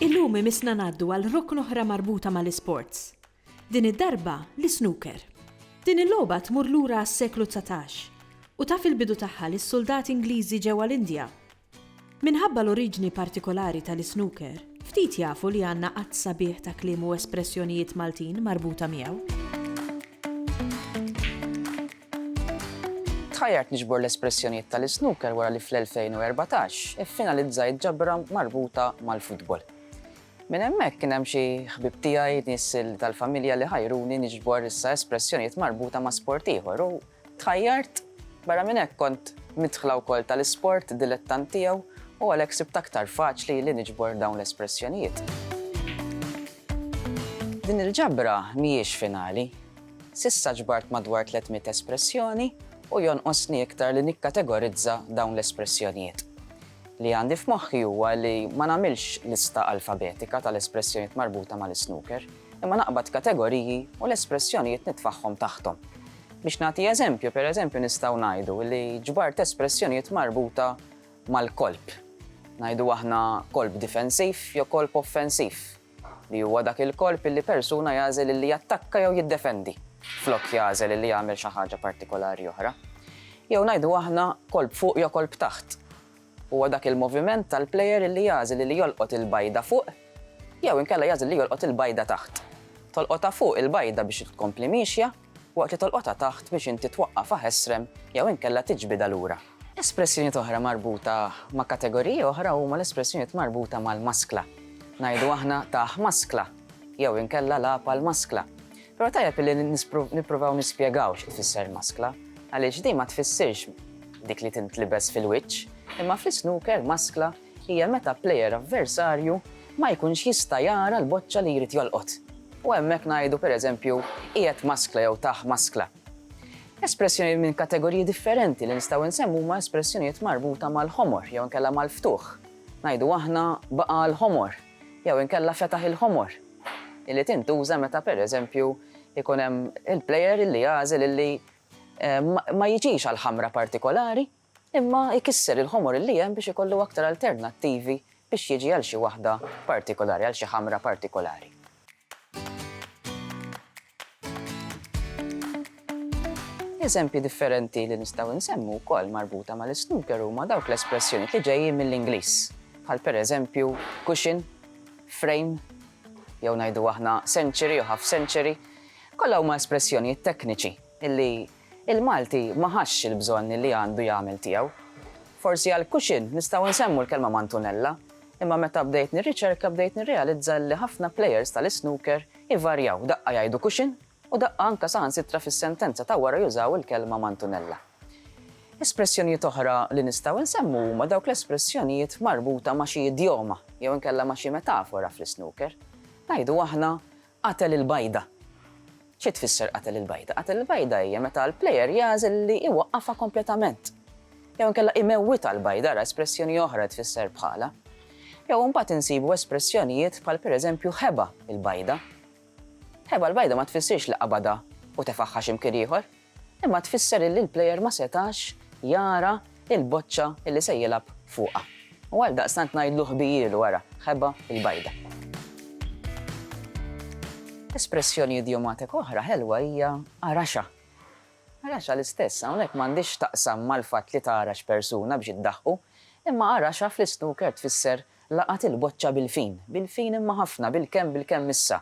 Illum imissna ngħaddu għal rokn oħra marbuta mal-isports. Din id-darba l-isnooker. Din il-logħba tmur lura għas-seklu dsatax u taf il-bidu tagħha lis-suldati Ingliżi ġewwa l-Indja. Minħabba l-oriġni partikolari tal-isnooker, ftit jafu li għandna għadd sabiħ ta' kliem u espressjonijiet Maltin marbuta miegħu. Tħajjart niġbor l-espressjonijiet tal-isnooker wara li fl-2014 iffinalizzajt ġabra marbuta mal-futbol. Minn hemmhekk kien hemm xi ħbieb tiegħi, nies tal-familja li ħajruni niġbor issa espressjonijiet marbuta ma' sport ieħor u tħajjart. Barra minn hekk kont midħla wkoll tal-isport, dilettant tiegħu u għalhekk sibt aktar faċli li niġbor dawn l-espressjonijiet. Din il-ġabra mhijiex finali. S'issa ġbart madwar 300 espressjoni u jonqosni iktar li nikkategorizza dawn l-espressjonijiet. Li għandi f'moħħi huwa li ma nagħmilx lista alfabetika tal-espressjonijiet marbuta mal-isnooker, imma naqbad kategoriji u l-espressjonijiet nitfagħhom taħthom. Biex nagħti eżempju, pereżempju nistgħu ngħidu li ġbart espressjonijiet marbuta mal-kolp. Ngħidu aħna kolp difensiv jew kolp offensiv. li huwa dak il-korp li persuna jagħżel illi jattakka jew jiddefendi, flok jagħżel illi jagħmel xi ħaġa partikolari oħra. Jew ngħidu aħna korp fuq jew korp taħt. Huwa dak il-moviment tal-plejer illi jagħżel illi jolqot il-bajda fuq jew inkella jagħżel li jolqot il-bajda taħt. Tolqotha fuq il-bajda biex tkompli miexja, waqt li tolqotha taħt biex inti twaqqafha ħesrem jew inkella tiġbidha lura. Espressjonijiet oħra marbuta ma' kategoriji oħra huma l-espressjonijiet marbuta mal-maskla. Ngħidu aħna tah maskla jew inkella lagħab għall-maskla. Però tajjeb illi nippruvaw nispjegaw xi tfisser maskla għaliex din ma tfissirx dik li tintlibes fil-wiċċ, imma fl-isnooker maskla hija meta plejer avversarju ma jkunx jista' jara l-boċċa li jrid jolqot, u hemmhekk ngħidu pereżempju qiegħed maskla jew tah maskla. Espressjonijiet minn kategoriji differenti li nistgħu nsemmu huma espressjonijiet marbuta mal-ħomor jew inkella mal-ftuħ. Ngħidu aħna baqa' l-ħomor jew inkella fetaħ il-ħomor, illi tintuża meta pereżempju jkun hemm il-plejer illi jagħżel illi ma jiġix għal ħamra partikolari, imma jkisser il-ħomor li hemm biex ikollu aktar alternattivi biex jiġi għal xi waħda partikolari, għal xi ħamra partikolari. Eżempji differenti li nistgħu nsemmu wkoll marbuta mal-isnooker huma dawk l-espressjonijiet li ġejjin mill-Ingliż, bħal pereżempju cushion, frame, jew ngħidu aħna century u half century, kollha huma espressjonijiet tekniċi illi Il-Malti ma ħassx il-bżonn li għandu jagħmel tiegħu. Forsi għal Cushing nistgħu nsemmu l-kelma mantunella, imma meta bdejt nirriċerka bdejt nirrealizza li ħafna plejers tal-isnooker ivarjaw, daqqa jgħidu Cushing u daqqa anke saħansitra fis-sentenza ta' wara jużaw il-kelma mantunella. Espressjonijiet oħra li nistgħu nsemmu huma dawk l-espressjonijiet marbuta ma' xi idjoma jew inkella ma' xi metafora fl-isnooker. Ngħidu aħna Qatel il-bajda. Xi tfisser qatel il-bajda? Qatel il-bajda hija meta l-plejer jagħżel li iwaqqafha kompletament. Jew inkella imewwitha l-bajda, ara espressjoni oħra li tfisser bħalha. Jew imbagħad insibu espressjonijiet bħal pereżempju ħeba l-bajda. Ħeba l-bajda ma tfissirx li qabadha u tefagħha xi mkien ieħor. Imma tfisser illi l-player ma setax jara l-boċċa illi se jilgħab fuqha. U għaldaqstant ngħidlu ħbijielu ara, ħeba l-bajda. Espressjoni idjomatika oħra ħelwa hija araxha. Araxha l-istess hawnhekk m'għandhiex x'taqsam mal-fatt li tgħarax persuna biex iddaħħu, imma araxha fl-isnooker tfisser laqat il-boċċa bil-fin, bil-fin imma ħafna, bil-kemm bil-kemm issa,